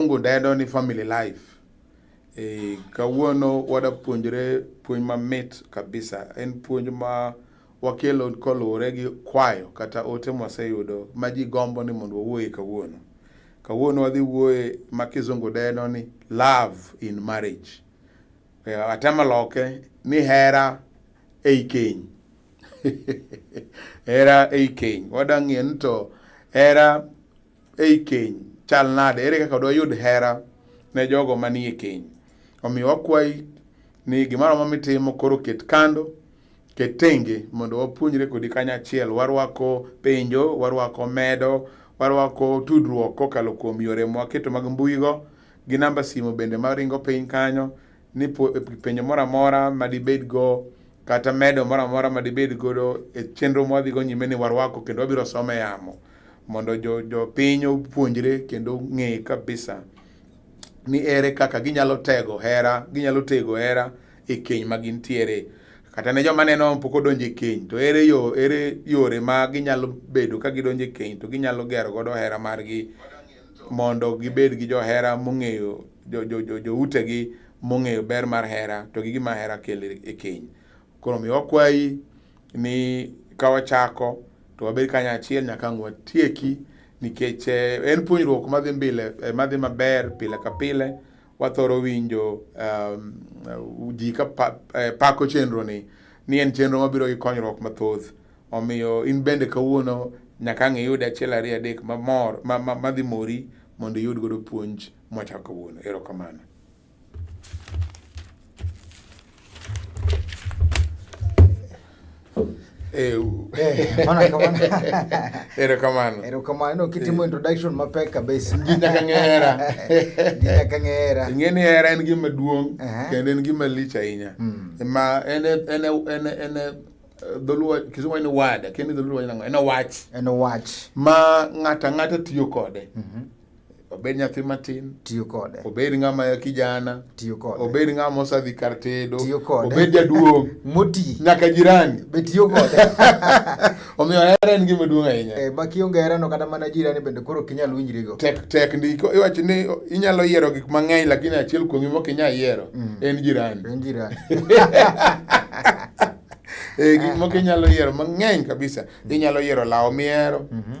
Mungu dedo ni family life. E, kawuono wadapuonjre puonj mamit kabisa. En puonj ma wakelo koluwore gi kwayo kata ote mwaseyudo ma ji gombo ni mondo wawuoye kawuono. Kawuono wadhi wuoye ma kizungu deno ni love in marriage. E, atemo loke ni hera ei keny. hera ei keny. Wadang'e ni to hera ei keny chal nade ere kaka doyud hera ne jogo manie keny omiyo wakwayi ni gimoro ma mitimo koro ket kando ket tenge mondo wapuonjre kodi kanyachiel warwako penjo warwako medo warwako tudruok kokalo kuom yore mwaketo mag mbuigo gi namba simu bende maringo piny kanyo ni penjo moro amora madibed go kata medo moro amora madibed godo e chenro mwadhigo nyime ni warwako kendo wabiro some yamo mondo jo, jo piny opuonjre kendo ng'e kabisa ni ere kaka ginyalo tego hera ginyalo tego hera e keny ma gintiere kata ne joma neno pok odonjo e keny to ere yo ere yore ma ginyalo bedo ka gidonjo e keny to ginyalo gero godo hera margi mondo gibed gi johera mong'eyo jo, jo, jo, joutegi mong'eyo ber mar hera to gi gima hera kelo e keny koro mi wakwayi ni ka wachako to wabed kanyo achiel nyaka ang' watieki nikech eh, en puonjruok madhi mbele eh, madhi maber pile ka pile wathoro winjo um, uh, ji ka pa, eh, pako chenro ni ni en chenro mabiro gi konyruok mathoth omiyo in bende kawuono nyaka ang' iyud achiel ariyo adek mamor ma, ma, madhi mori mondo iyud godo puonj mwachako kawuono erokamano Eh, erokamano erokamano kitimo eh. introduction mapek kabisa ginya kang'era ginya kang'era ing'e ni hera en gima duong' kendo en gima lich ahinya hmm. ma en en en en eh, dholuo kisumo en wada kendo dholuo en en wach en wach ma ng'ata ng'ata tiyo kode mhm. obed nyathi matin tiyo kode obed ng'ama kijana tiyo kode obed ng'ama osadhi kar tedo tiyo kode obed jaduong' moti nyaka jirani be tiyo kode omiyo hera en gima duong' ahinya eh, ma kionge herano kata mana jirani bende koro ok inyal winjrigo tek tek ndiko iwacho ni inyalo yiero gik mang'eny lakini achiel kuomgi mok inyal yiero mm. en jirani en jirani eh, gik moko inyalo yiero mang'eny kabisa mm. inyalo yiero lawo mihero mm -hmm.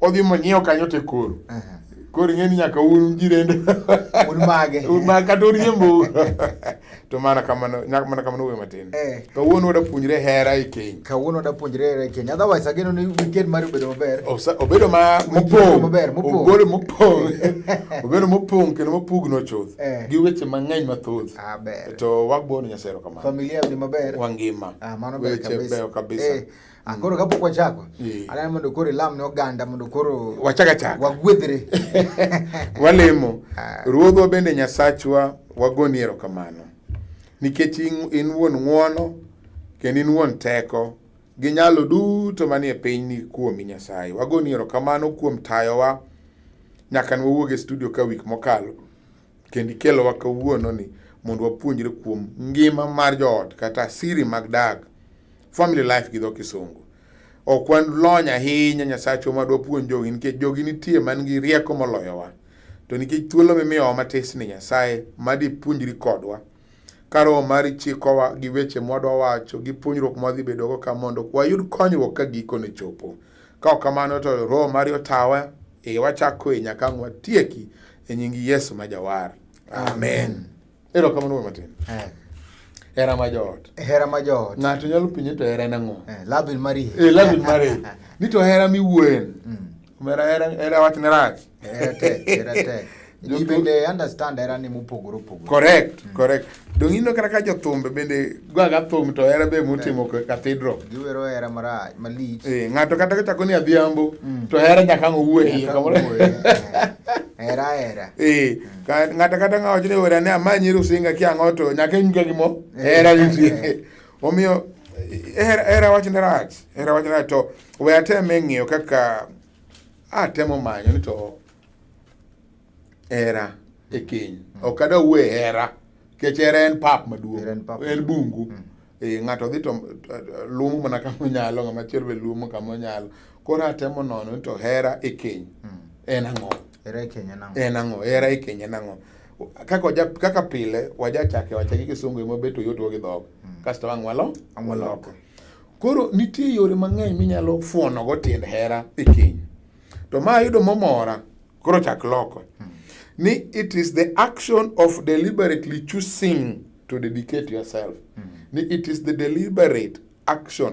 Odhi monyiewo kanyo to koro. Koro ing'e ni nyaka un jirende. Un mage. Un mage kata uriembo. To mana kamano, nyaka mana kamano wuoyo matin. Eh. Kawuono wada puonjre hera e keny. Kawuono wada puonjre hera e keny. Otherwise ageno ni weekend mari obedo maber. Obedo ma mopong'. Maber, mopong'. Obedo mopong'. Obedo mopong' kendo mopugno chuth. Eh. Gi weche mang'eny mathoth. Ah, ber. To wagbono Nyasaye kamano. Familia ni maber. Wangima. Ah, mano ber kabisa. Weche beyo kabisa. Eh. akoro ah, kapok wachako aneno mondo koro ilam ne oganda mondo koro wachakachak wagwedhre walemo ah. ruodhwa bende nyasachwa wagoni erokamano nikech in wuon ng'wono kendo in wuon teko gi nyalo duto manie piny ni kuomi nyasaye wagoni erokamano kuom tayowa nyaka nwawuog e studio ka wik mokalo Kendo ikelowa kawuono ni mondo wapuonjre kuom ngima mar joot kata siri mag dag family life gi dho kisungu ok wan lony ahinya nyasachwa ma dwapuonj jogi nikech jogi nitie man gi rieko moloyowa to nikech thuolo mimiyowa matis ni nyasaye madipuonjri kodwa Ka Roho mari chikowa gi weche mwadwa wacho gi puonjruok mwadhi bedogo ka mondo wayud konyruok ka gikone chopo. Ka ok kamano to Roho mari otawa e wachako e nyaka ang' watieki e nying Yesu ma jawar. Amen. Ero kamano wuoyi matin. Hera ma joot. Hera ma joot. Ng'ato nyalo penje to hera en ang'o? Eh, love in marriage. Eh, love in marriage. Ni to hera miwuoyen. Mm. Omera hera hera wach ne rach. Hera tek, hera tek. Ji bende understand hera ni mopogore opogore. Correct, mm. correct. Donge ineno kata ka jothumbe bende gwaga thum to hera be motimo cathedral. Giwero hera marach, malich. Eh, ng'ato kata kochako ni adhiambo mm. to hera nyaka ang' owuo e iye kamoro. Hera hera. Eh, mm. ng'ato kata ng'a wacho ni hera ne amanyi rusinga kiang'o to nyaka inyga gimo hera nitie. Omiyo hera hera wachne rach, hera wachne rach to we ateme ng'iyo kaka atemo manyo ni to hera e keny. Ok ada wuoye hera nikech hera en pap maduong', Hera en pap en bungu. Mm. Eh, ng'ato dhi to eh, luomo mana kama onyalo, ng'ama chielo be luomo kama onyalo. Koro atemo nono ni to hera e keny Mm. en ang'o? Hera e keny en ang'o? en ang'o hera e keny en ang'o kaka waja kaka pile waja chake wacha gi kisungu emo beto yot gi dhok mm. kasto wang walo amoloko koro nitie yore mang'eny minyalo fuono go tiend hera e keny to ma ayudo momora koro chak loko mm. ni it is the action of deliberately choosing to dedicate yourself mm. ni it is the deliberate action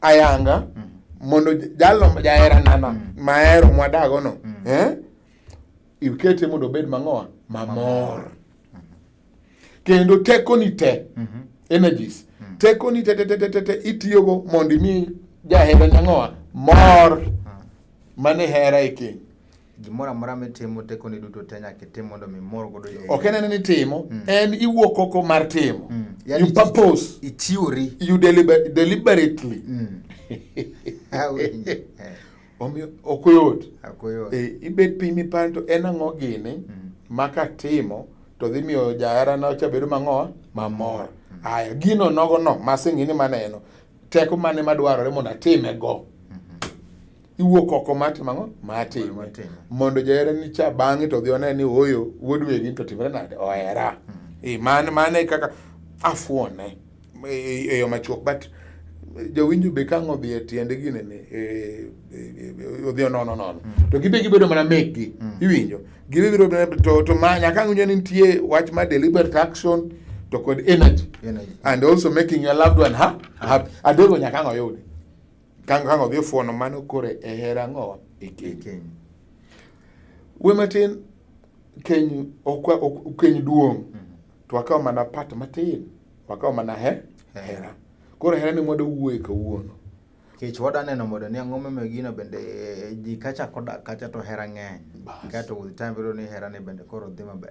ayanga mm. mondo jalo jahera nana mm. mahero mwadago no mm. eh? ikete mondo obed mang'owa mamor kendo tekoni te mm -hmm. energies mm -hmm. tekoni te te te te te itiyogo mondo imi jahera nyang'owa mor mm. mane hera e keny gimoro amora mitimo tekoni duto te nyaka itim mondo mi mor godo jo ok en ni timo mm. en iwuok oko mar timo mm. yani you purpose ichiwori you deliber deliberately mm. omiyo ok oyot eh, ibet piny miparo to en ang'o gini mm. ma katimo to dhi miyo jaherana cha bedo mang'o mamor mm. aya gino nogono masingini maneno teko mane madwarore mondo atime go iwuok oko mar timo ang'o mar time mondo jaherani cha bang'e to dhi one ni oyo wuod wegi to timre nade ohera hmm. mane mane kaka afuone e yo machuok but jowinjo be kang' odhi e tiende gine ni e, e, e, odhi onono nono hmm. to gibe gibedo mana mekgi hmm. iwinjo gibe biro to to ma nyaka ng'inyo ni nitie wach ma deliberate action to kod energy, energy. and also making your loved one ha, ha. adego nyaka ng'oyudi Kang kang odhi ofuono mano kore e hera ng'owa e keny. We matin keny ok keny duong' to wakawo mana part matin wakawo mana he hera. Koro hera ni mwado wuoye kawuono. Kech wada neno modo ni ang'o momiyo gino bende ji kacha kodak kacha to hera ng'eny. Kato with time biro ni hera ni bende koro dhi maber.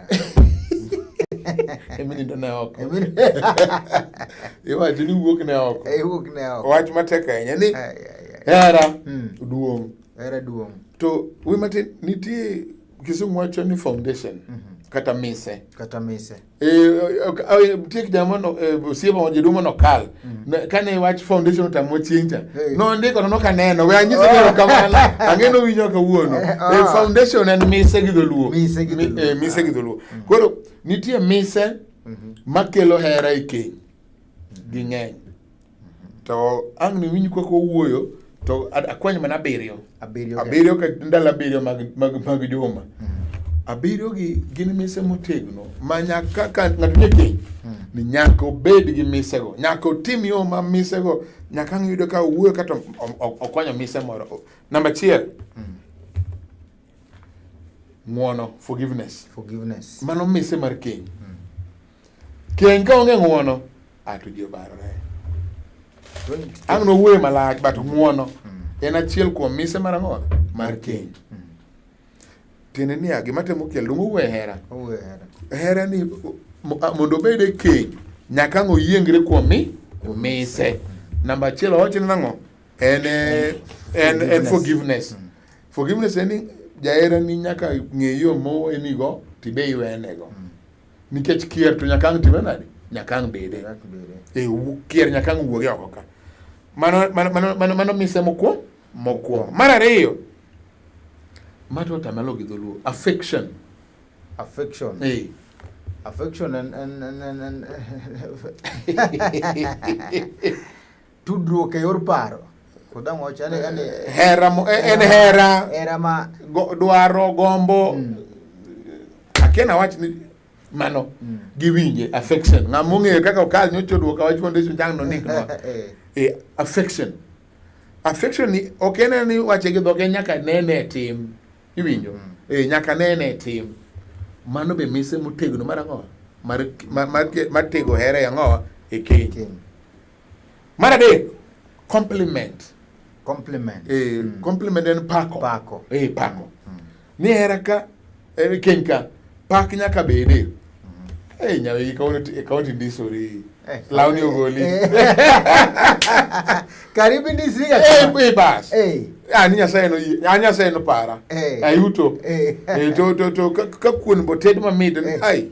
emi nindo ne oko iwacho ni wuok ne oko Eh, wuok ne oko wach matek ahinya ni Ai, ai, ai. hera Mm. duong' Hera duong' to wi matin nitie kisumu wacho ni foundation kata mise kata mise Eh, ok- eh, nitie kijana mano osiepa ma jaduong' manokal Mm. Kane wach foundation otamo chincha. Hey. No ndiko no kaneno. We anyiso oh. ngero kamano. Angeno winyo kawuono. Eh, oh. E foundation en mise gi dholuo. Mise gi dholuo. Eh, mise gi dholuo. Mm. Koro nitie mise mm -hmm. makelo hera e keny. Ging'eny. Mm-hmm. To ang' ni winyi koko wuoyo to akwany mana abiriyo abiriyo ka ndalo abiriyo mag, mag, mag juma mm. abiriyo gi gin mise motegno ma nyaka ka ng'ato nie keny mm. ni nyaka obed gi misego nyaka otim yo ma misego nyaka ang' yudo ka owuoyo kata okwanyo mise moro namba achiel mm. ng'uono forgiveness forgiveness mano mise mar keny mm. Keny ka onge ng'uono, ato ji obarore. Ang' nowuoye malach, but ng'uono hmm. en achiel kuom mise mar ang'o? Mar keny. Hmm. Tiende niya, gima temo kelo donge owuoye hera. Hera ni mondo obed e keny, nyaka ang' oyiengre kuom mi mise. Hmm. Namba achiel owacho ni nang'o? En en en forgiveness. Forgiveness en ni jaherani nyaka ng'e yo mowenego tibe iwenego. Nikech kier to nyaka ang' time nade? Nyaka ang' bede. E, kier nyaka ang' wuogi oko ka. Mano, mano, mano, mano, mano mise mokuo? Mokuo. Mar ariyo, mato tamalo gi dholuo. Affection. Affection. E. Affection and, and, and, and, and Tudruok e yor paro. Kodang wacho ane ane eh, hera mo eh, en hera. Hera ma go, dwaro gombo. Mm. Akena wach ni mano mm. giwinje affection. Ng'ama ong'eyo kaka okal nyocho duoka wach foundation jang no nik no. Eh. eh affection. Affection ni ok en ni wache gi dhoge nyaka nene tim. Iwinjo? Mm. Eh nyaka nene tim. Mano be mise motegno mar ang'o? Mar mar, mar tego hera ang'o? E keny. Mar adek, compliment. Compliment. Eh, mm. Compliment en pako. Pako. Eh, pako. Mm. Ni hera ka, eh, keny ka, pak nyaka bede. Mm. Eh, nyawe ikawo tindisori. Eh, Launi ogoli. Eh. Karibu ndisi ya. Eh, eh bas. Eh. Ani ah, nyasaye no ani ah, nyasaye no para. Eh. Ayuto. Eh. eh to to to ka kuon boted mamit. Eh. Ai.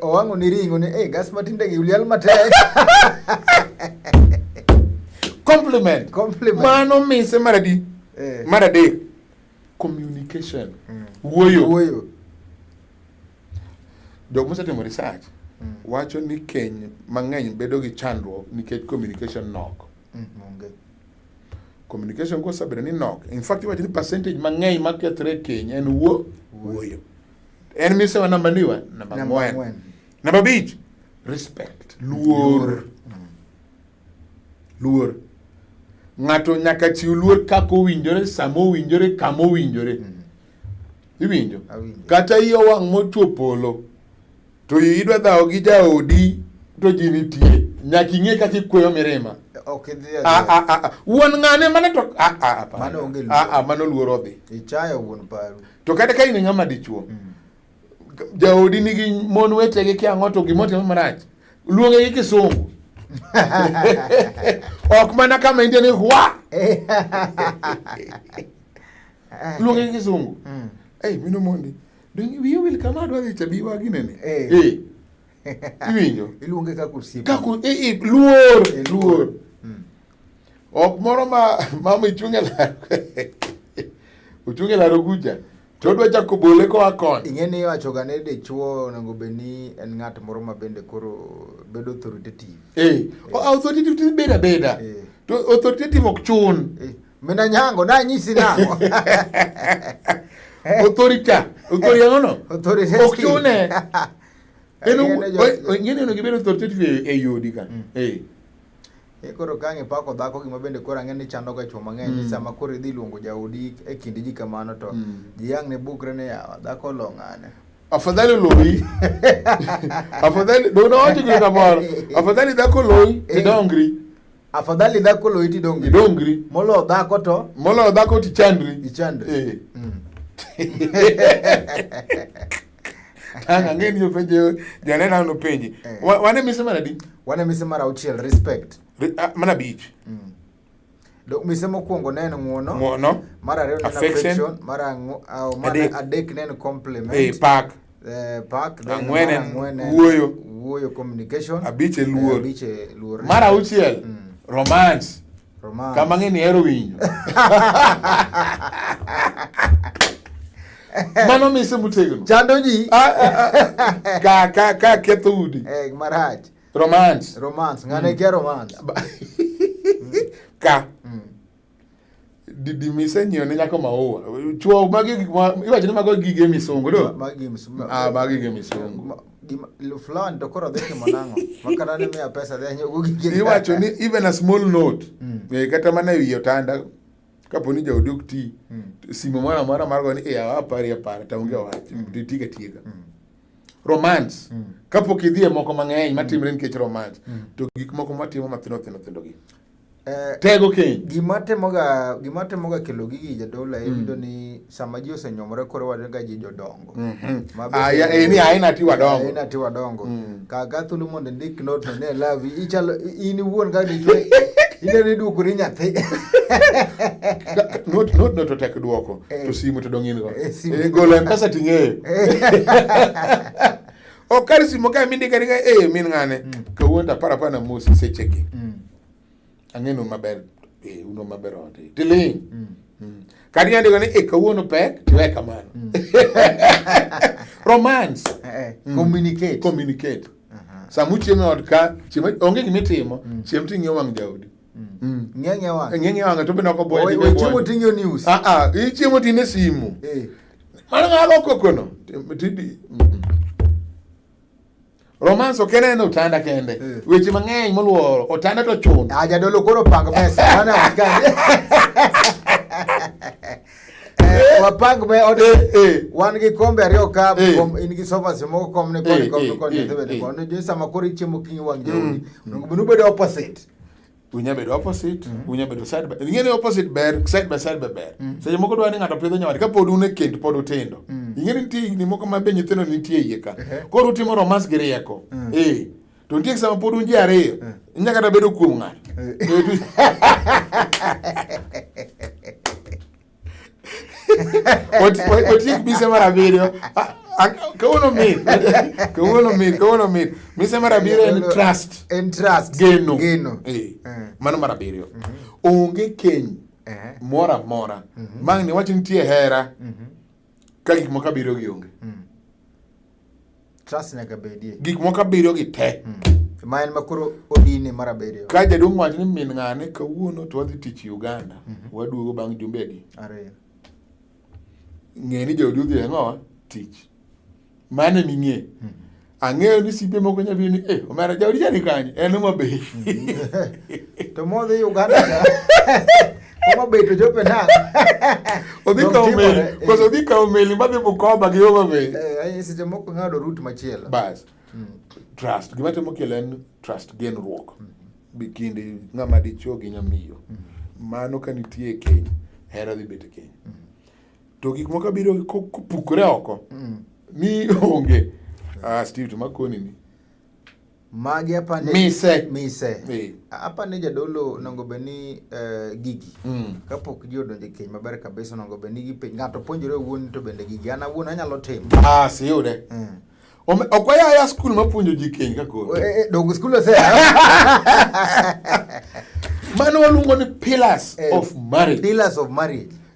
Owango ni ringo ni eh gas matinde gi ulial matek. Compliment. Compliment. Mano mise maradi. Eh. Maradi. Communication. Mm. Wuoyo. Wuoyo. Jok mosetimo research mm. wacho ni keny mang'eny bedo gi chandruok nikech communication nok. Mm, okay. Communication kosabedo ni nok. In fact iwacho ni percentage mang'eny makethre keny en wuo wuoyo. En mise wa namba ni wa namba ng'wen. Namba bich, respect, luor. Luor. Ng'ato nyaka chiw luor kako winjore, samo winjore, kamo winjore. Mm. Iwinjo? Kata iyo wang' mochwo polo. To idwa dhawo gi jaodi to ji nitie. Nyaka ing'e kaka ikweyo mirima. Ok idhi a ah, a ah, a ah, wuon ng'ane mane to a a a mano onge luoro. A a mano luoro dhi. Ichayo wuon paru. To kata ka in ng'ama dichuo. Mm. Jaodi nigi mon wetege kia ng'oto gimo timo marach. Luonge gi kisungu. ok mana kama india ni hwa luonge gi kisungu mm. ei mino mondi Donge wiyo wil kama adwa dhi chabi wagi nene. Eh. eh. Iwinjo? Iluonge kaka osiepe. Kaka eh, eh luor, eh, luor. Hmm. Ok moro ma mama ichunge la. Uchunge la roguja. To odwa chako bole koa koni. Ing'e ni iwachoga ni dichwo onego bed ni en ng'at moro ma bende koro bedo authoritative. Eh, eh. authoritative bedo abeda. Eh. To authoritative ok chun. Eh. Mina nyango na nyisi nango. Otorika, otoria ngono. Otorika. Okione. Eno ngene no gibero tortete e yodi ka. Mm. Eh. Ekoro kange pako dhako gima bende koro ang'e ni chando ga chwo mang'eny mm. sama koro idhi luongo jaodi e kindi ji kamano to mm. ji ang' ne bukre ni yawa dhako olong'ane afadhali loyi afadhali donawacho gino kamoro afadhali dhako loyi tidongri eh. Afadhali dhako lo iti dongri. Dongri. Molo dhako to. Molo dhako ti chandri. Ichandri. Eh. Mm. Tanga ngeni yo penje jana na no penje. Eh. Wane mise mara di? Wane mise mara uchiel respect. Re, uh, mana beach. Mm. Do mise mokwongo neno ng'uono. Ng'uono. Mara reo neno affection. Mara ng'o, uh, mara adek neno compliment. Eh, park. Eh, ang'wen en wuoyo wuoyo communication abich e luor eh, abich e luor mar auchiel mm. romance romance kama ng'e ni hero winyo mano mise motegno chando ji ah, ah, ah. ka ka ka ketho udi eh marach romance romance ng'ane mm. kia romance ka mm. Didi mise nyiewo ne nyako maua. Chuo magi gik ma iwacho ni mago gige misungu do. Magi gige misungu. Ah, magi gige misungu. Gima fulani to koro dheke manango. Makana ne miya pesa dhe nyogo gige. Iwacho ni even a small note. Mm. E, kata mana ewi otanda kapo ni jaodi ok ti mm. simo moro amora mar go ni e awa apari apara to onge wach mm. to tiga tiga. Mm. Romance. Mm. Kapo kidhie moko mang'eny matimre mm. nikech romance. Mm. To gik moko matimo mathindo thindo thindo gi. Eh, tego keny gima timoga gima timoga kelo gigi jadolo en yudo mm. ni sama ji osenyomore koro wadega ji jodongo mm-hmm. ah, eh, ni aina ti wadongo aina ti wadongo mm. kaga thuolo mondo ndik note no ne lavi ichalo in iwuon ka dichwe ine ni duoko ni nyathi not not not to tek duoko to eh. simu to dongin go golo mpesa ting'eyo okari simo ka minde kani ka eh min ngane mm. kawuono to aparo aparo na mosi seche gi mm. ang'enu maber eh uno maber ode tiling mm. mm. kani andiko ni eh kawuono pek tiwe kamano mm. romance eh, eh. mm. communicate communicate uh -huh. samu chiemo od ka chiemo onge gimi timo mm. chiemo ting'e wang' jaudi mm. mm. ng'eng'e wang' ng'eng'e wang' to be noko boye chiemo ting'e news ah ah chiemo tine simu eh Mano ng'alo kokono. Tidi. Romance ok en otanda kende. Eh. Weche mang'eny moluoro otanda to chun. Ah jadolo koro pang mesa. Mana wasikani. Eh, wapang me ode eh, wan gi kombe ariyo ka kom in gi sofas moko kom ne koni kom ne koni ne bende koni jo sama koro ichiemo kinyi wang' jowi. Mm. Onego bed opposite. unya bedo opposite mm. unya bedo side by ingene opposite ber side by side ber mm. seche moko dwani ng'ato pidho nyawari ka pod une kend pod utindo mm. ingene nitie ni moko ma be nyithindo nitie iye ka uh-huh. koro utimo romance gi rieko mm. eh to nitie sama pod unji ariyo mm. inya kata bedo kuom ng'ato eh. Otiek bise mar abiriyo. Kawuono mit. Kawuono mit. Kawuono mit. Mise mar abiriyo en trust. En trust. Geno. Geno. Eh. eh. Mano mar abiriyo. Mhm. Onge keny eh. mora mora. Mhm. Mang'ni wach nitie hera. Mhm. Ka gik moko abiriyo gi onge. Mm. Trust nyaka bedie. Gik moko abiriyo gi te. Mm. Ma en makoro odine mar abiriyo. Ka jaduong' wacho ni min ng'ane kawuono to wadhi tich Uganda. Mm -hmm. Waduogo bang' jumbe adi? Ariyo. Ng'e ni jaodi odhi ang'owa tich. Mane ming'e. Hmm. Ang'eyo ni sipe moko nya bini eh omera jauri jani kanye en ma be. Hmm. To modhi Uganda. Oma be to jope na. Odhi ka omeli, eh. koso odhi ka omeli ma dhi Bukoba gi Homa Bay. Eh, ai seche moko ng'ado route machielo. Bas. Hmm. Trust, gima temo kele en trust genruok. Bikindi ng'ama dichuo gi nyamiyo. Mano ka nitie keny, hera dhi bet keny. to gik moko biro kopukore oko mm. mi onge ah, Steve to makoni ni magi apani mise mise hey. apani jadolo nongo beni uh, eh, gigi mm. kapok ji odonje keny maber kabisa nongo beni gi piny ng'ato puonjore wuon to bende gigi an awuon anyalo timo ah si yude mm. ok wayaya skul mapuonjo ji keny kakoro eh, eh, dog skul ose mano waluongo ni pillars eh, of marriage pillars of marriage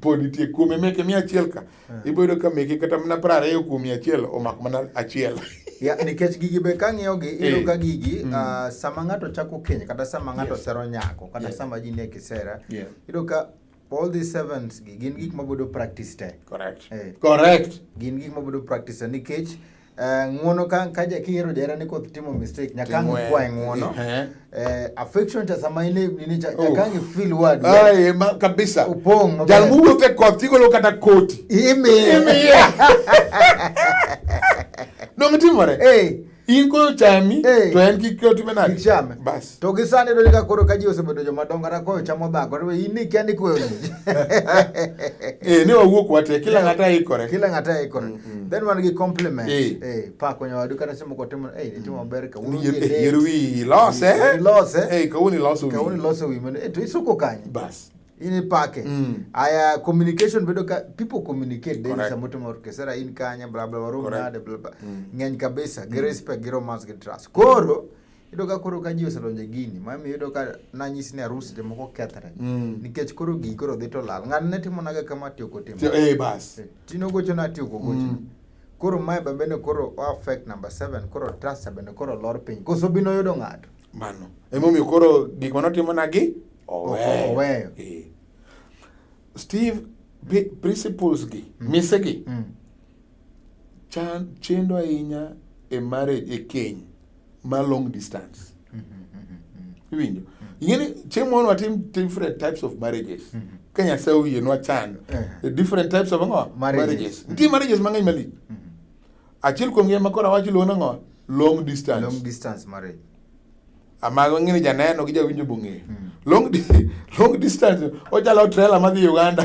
pod nitie kuome meke mia achiel ka yeah. iboyudo ka meke kata mana pra ariyo kuom mia achiel omako mana achiel ya nikech gigi be kang'iyo gi eh. iyudo ka gigi mm. uh, sama ng'ato chako keny kata sama ng'ato yes. sero nyako kata yes. sama ji nie kisera yeah. iyudo ka all these sevens gi gin gik mabedo practice te correct eh. correct gin gik mabedo practice nikech Eh, ng'uono ka ka kihero jaherani koth timo mistake nyakangi kwae ng'uono eh. eh, affection cha sama ile nini cha nyakangi feel word ai ma kabisa upong jal muwuotho e koth tigolo kata koti imi imi dong timore eh in ko chami to en kik koti menade bas To gi sani donjo ka koro ka ji osebedo joma dongo kata koyo chamo dhako to in ni kendi koyo ji. Eh ne wawuok wate kila eh, ng'ata ikore. Kila ng'ata ikore. Mm, mm. Then wan gi compliment. Eh, eh pa konyo wadu kata simo ko timo eh timo mm. maber ka wuru. Yer wi lose. Eh? Lose. Eh ka wuni lose wi. Ka wuni lose wi mane eh to isuko kanye. Bas. Ini pake. Mm. Aya communication bedo ka people communicate then sa mtu mworkesera in kanya bla bla warum nade bla bla. Ng'eny kabisa. Gi respect, gi romance, gi trust. Koro mm. Iyudo ka koro ka ji oselonje gini, mami iyudo ka nanyisi ni arus jomoko kethre. Mm. Nikech koro gigi koro dhi to lal. Ng'an ne timo naga kama tiyo kotimo. Tiyo, eh, bas. Eh, tino gocho na tiyo kogocho. Mm. Koro mae bambe ne koro o affect number seven, koro trust bende koro lor piny. Koso bino yudo ng'ato. Mano. Emomiyo koro gik mano timo nagi? Oweyo. Oweyo. Eh. Steve, principles gi, mm. mise gi, mm. chan, chendo ahinya e marriage, e keny. ma long distance mm-hmm, mm-hmm, mm-hmm. iwinjo ingeni chieng' moro watim different types of marriages ka nyasaye oyie nwachan eh. the different types of ngo marriages nitie marriages mang'eny malich achiel kuom gi ma koro awacho luo nang'o long distance long distance marriage amago ng'ini janeno gi jawinjo bong'eyo hmm. long, long distance ochalo trela madhi uganda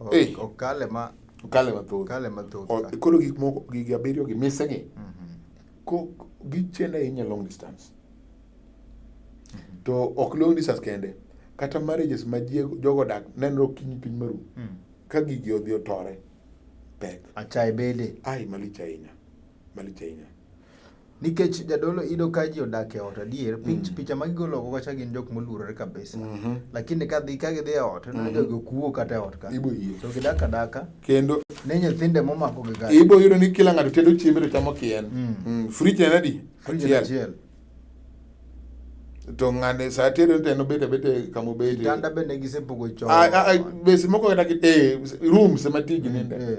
Okale ma okale mathoth. Okale mathoth. Koro gik moko gigi abiriyo gi mise gi. Mhm. Ko gichele ahinya long distance. Mhm. To ok long distance kende. Kata marriages ma jogo dak nenro kinyi piny maru. Mm. Ka gigi odhi otore pek. Achaye bede. Ai malich ahinya. Malich ahinya. nikech jadolo ido ka ji odak e ot adier mm. picha ma gigolo oko kacha gin jok moluorore kabisa mm-hmm. lakini ka dhi ka gidhi e ot neno mm-hmm. jogi okuo kata e ot ka to gidak adaka kendo ne nyithinde momako gi gari ibo yudo ni kila ng'ato tedo chiembe to chamo kien mm. mm. frij en adi achiel to ng'ane sa tere te nobet abete kama obete kitanda bende gisepogo chon bes moko kata eh, rooms ema tigi ninde eh.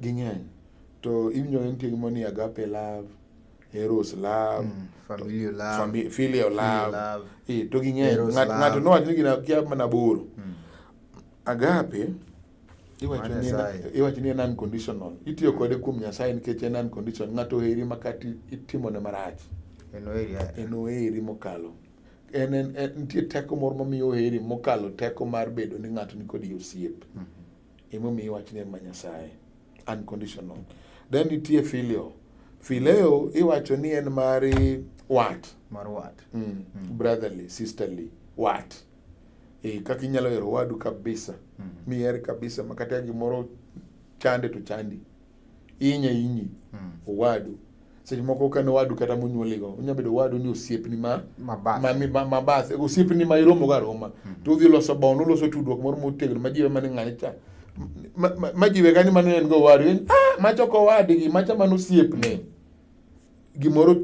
Ging'eny. To iwinjo en tieng' moni agape love, eros love, mm, familial love, fami, filial love. love. E, to ging'eny. Ng'ato nowach ni gina kia mana boro. Mm. Agape iwacho ni en unconditional. Itiyo kode kuom Nyasaye nikech en unconditional. Ng'ato oheri makati itimone marach. En oheri mokalo en, en, en nitie teko moro mamiyo oheri mokalo teko mar bedo ni ng'ato nikodi osiep mm -hmm. Emomiyo iwach ni en ma Nyasaye. Unconditional. Then nitie filio. Fileo iwacho ni en mari wat. Mar wat. Mm. Mm. Brotherly, sisterly, wat. E, kaka inyalo hero wadu kabisa. Mm. Miher kabisa makata gimoro chande to chandi. inya inyi mm. owadu seche moko ka en owadu kata monyuoligo onya bedo owadu ni osiepni ma mabath osiepni ma iromogo aroma mm. to udhi loso bond uloso tudruok moro motegno ma jiwe mane ng'ani cha ma jiwe kani mano en go owadu ah, macha ok owadgi macha mano osiepne gimoro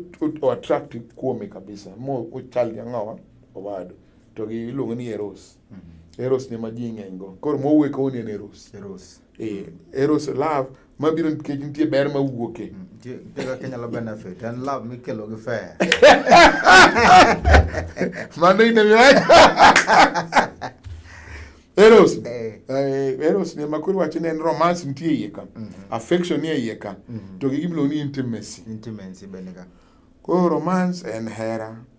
oattract kuome kabisa mo ochal gi ang'owa owadu to gi iluongo ni eros mm -hmm. eros ne ma ji ng'eny go koro mowuok owuok ni en eros Eh, eros love mabiro nikech nitie ber ma wuoke mano inemiwacho eros eh. Eh, eros ni ma koro wacho ni en romance nitie iye ka mhm. affection nie iye ka mhm. to gi gimiluongo ni intimacy intimacy bende ka koro romance en hera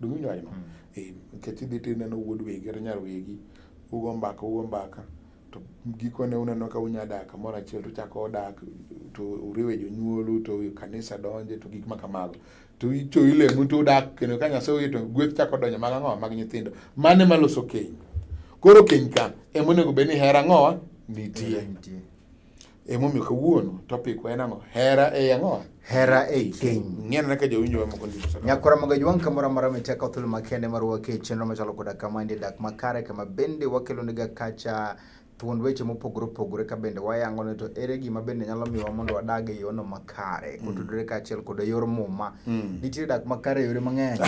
Do you know? Mm. Eh, nikech idhi to ineno wuod wegi kata nyar wegi, ugo mbaka, ugo mbaka to gikone uneno ka unya dak kamoro achiel to chako dak to uriwe jonyuolu to kanisa donje to gik ma kamago to icho ilemu to udak kendo ka Nyasaye oyie to gweth chako donjo mag ang'owa mag nyithindo mane maloso keny koro keny ka ema onego bed ni hera ang'owa nitie Emomiyo kawuono topic wa en ang'o? Hera e ang'o? Hera e keny. Ng'ena naka jowinjo wa moko ndiko. Nyakora maga jwang kamora mara miteka thul makende mar wake chenro machalo koda kama ndi dak makare kama bende wakelo niga kacha thuond weche mopogore opogore ka bende wayango ne to ere gima bende nyalo miwa mondo wadag e yono makare mm. kotudore kaachiel kod e yor muma. Mm. Nitie dak makare e yore mang'eny.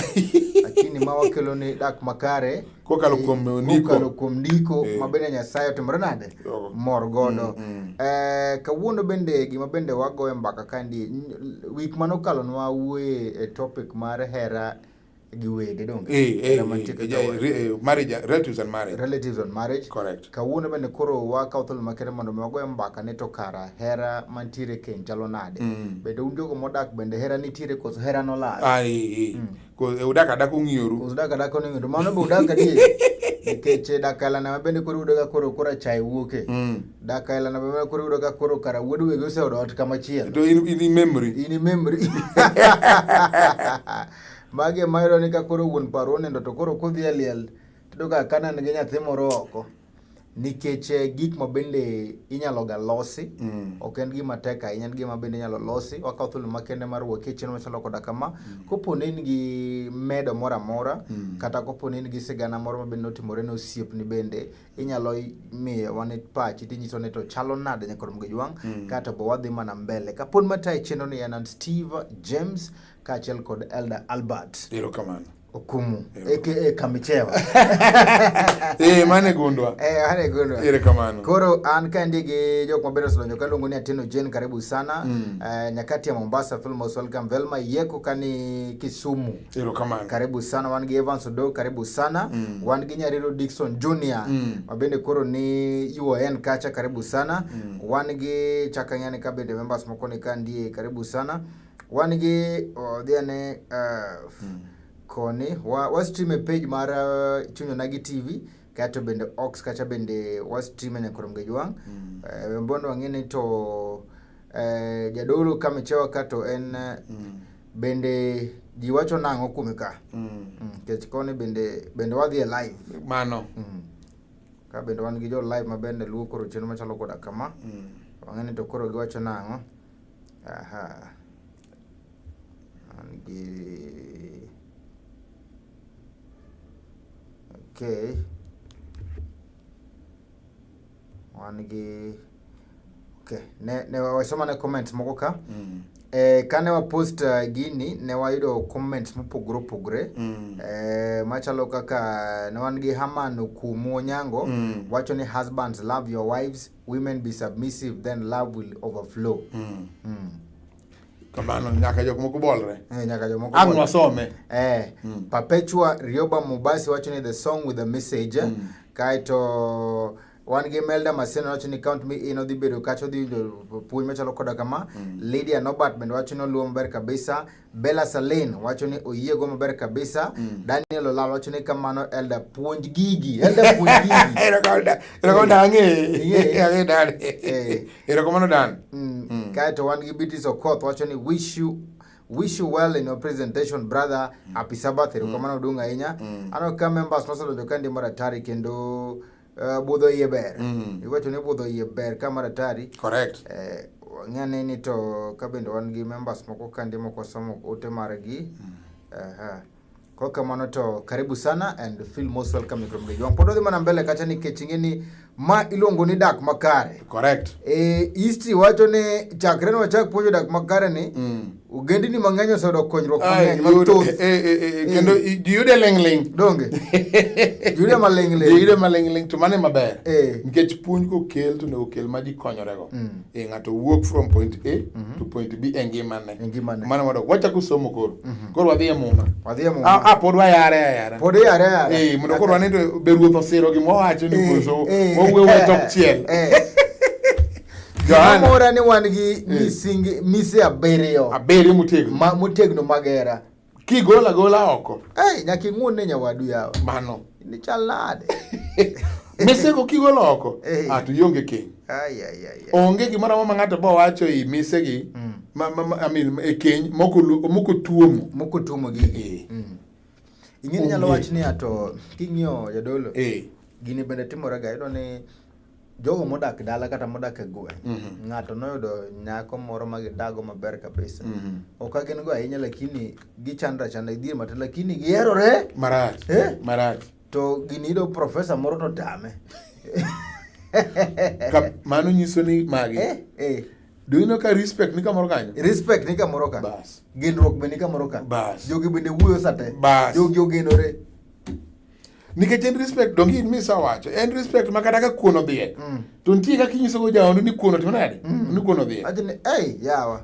Lakini ma wakelo ni dak makare kokalo eh, kuom ndiko kokalo kuom ndiko eh. ma bende Nyasaye otimore nade mor godo mm, mm. eh, kawuono bende gima bende wagoye mbaka kandi week mano kalo nwa wuoye e topic mar hera gi wede donge eh, eh, eh, marriage relatives and marriage relatives and marriage correct kawuono bende koro wakawo thuolo makende mondo mi wagoye mbaka ne to kara hera mantiere keny chalo nade mm. bende un jogo modak bende hera nitiere koso hera nolal ah, mm. Cause eh, udak adaka ung'ioru. Cause udak adaka oning'ioru. Mano be udak adier. Nikech eh, dak ailana mabende koro yudo ka koro kora chai wuoke. Mm. Dak ailana mabende koro yudo ka koro kara wuod wegi oseodo ot kama chielo. To in in memory. In memory. Magi ema yudo ni ka koro wuon paro onindo to koro kodhi aliel. Tudo ka kanan gi nyathi moro oko. nikech eh, gik ma bende inyalo ga losi mm. ok en gima tek ahinya en gima bende inyalo losi wakawo thuolo makende mar wuok e chenro machalo koda kama mm. kopo ne in gi medo moro amora mm. kata kopo ne in gi sigana moro mabende notimore ne osiepni bende inyalo miye wane pachi tinyiso ni to chalo nade nyakoro mgejwang mm. kato bo wadhi mana mbele kapod mataye chenro ni en an steve james kaachiel kod elder albert erokamano Okumu aka Kamichewa. Eh, mane gundwa. Eh, mane gundwa. Ire kamano. Koro an ka ndigi jok mabiro sodonjo kaluongo ni Atino Jane karibu sana. Mm. Uh, nyakati ya Mombasa film Filmos welcome Velma Yeko kani Kisumu. Ire kamano. Karibu sana wan gi Evans Odo karibu sana. Mm. Wan gi Nyariro Dixon Junior. Mm. Mabende koro ni UON kacha karibu sana. Mm. Wan gi chakanyani kabende members moko ni ka ndiye karibu sana. Wan gi odhi ane uh, hmm. koni wa, wa stream e page mar uh, Chunya Nagi TV kato bende Ox kata bende wa stream e Nyakurum Gejwang. Mm. Uh, Wembondo wang'ene to uh, jadolo kamechewa kato en uh, mm. bende ji wacho nang'o kuome ka mm. mm. kech koni bende bende wadhi e live mano mm. ka bende wan gi jo live ma bende luwo koro chenro machalo koda kama mm. wang'eni to koro giwacho nang'o Aha. An gi Okay. Wan gi Okay. Ne ne wasoma ne comments moko ka. Mm. Eh, kane wa post uh, eh, gini ne wayudo comments mopogore opogore mm. eh, machalo kaka ne wan gi Haman Okumu Onyango mm. wacho ni husbands love your wives women be submissive then love will overflow mm. Mm. kamano nyaka jok moko bolre eh, nyaka jok moko ang wasome eh mm. perpetua rioba mubasi wacho ni the song with the message mm. kaito wan gi melda maseno wacho ni count me in odhi bedo kacha odhi puonj machalo koda kama mm. lydia nobert bende wacho ni oluwo maber kabisa Bella Salin wacho ni oyiego maber kabisa. Mm. Daniel Olal wacho ni kamano Elda puonj gigi. Elda puonj gigi. Ero konda. Ero konda ange. Ange dan. Ero komano dan. Mm. Mm. Kae to wan gi Beatrice Okoth wacho ni wish you wish you well in your presentation brother. Mm. Happy Sabbath. Ero mm. komano duong ahinya. Mm. Ano ka members mosedojo kandi mara tari kendo Uh, budho iye ber mm. iwacho ni budho iye ber ka maratari correct eh, ng'ane ni to ka bende wan gi members moko kande moko somo ote margi mm. uh -huh. Kwa kamano to karibu sana and feel most welcome Igro Mgeji wangu. Pod odhi mana mbele kacha nikech ing'e ni ma iluongo ni dak makare. Correct. E, history wacho ni chakre ne wachak puonjo dak makare ni mm. Ogendini mang'eny osedok konyruok mang'eny mathoth. Eh, eh, eh, kendo jiyude ling'ling'. Donge. Jiyude maling'ling'. Jiyude maling'ling' to mano maber. Nikech puonj kokel to onego okel ma ji konyorego. Mm. E ng'ato wuok from point A mm-hmm. to point B e ngimane. E ngimane. Mano wadok. Wachako somo koro. Mm-hmm. Koro wadhi e muma. Wadhi e muma. A ah, ah, pod wayare ayara. Pod yare ayara. Eh, mondo koro wane to be ruoth osiro gima owacho ni koso. Owuoyo tok chiel. Mora ni wan gi eh. misingi mise abiriyo. Abiriyo motegno. Ma motegno magera. Kigola gola oko. Eh, nyaka ing'un ne nyawadu yawa. Mano. Ni chal nade? Mise go kigola oko. Eh. Ah, to ionge keny. Ai ai ai. Onge gimoro amora ma ng'ato bo wacho i mise gi. Mm. Ma ma I mean e keny moko moko tuomo. Moko tuomo gi. Eh. Mm. Ing'e nyalo wach ni ato king'iyo jadolo. Eh. Gini bende timore ga iyudo ni jogo modak dala kata modak e gweng' mm -hmm. ng'ato noyudo nyako moro ma gidago maber kabisa mm -hmm. ok agin go ahinya lakini gichandra chanda gidhier matin lakini giherore marach eh? marach to gini yudo profesa moro to tame mano nyiso ni magi eh? Eh. Do you know ka respect ni kamoro kanyo? Respect ni kamoro ka. Bas. Genruok be ni kamoro ka. Bas. Jogi bende wuoyo sate. Bas. Jogi ogenore. nikech en respect donge in misa wacho en respect ma kata ka kuon odhiek mm. to nitie kaka inyisogo jaondo ni kuon otimo nade mm. ni kuon odhiek achni ei yawa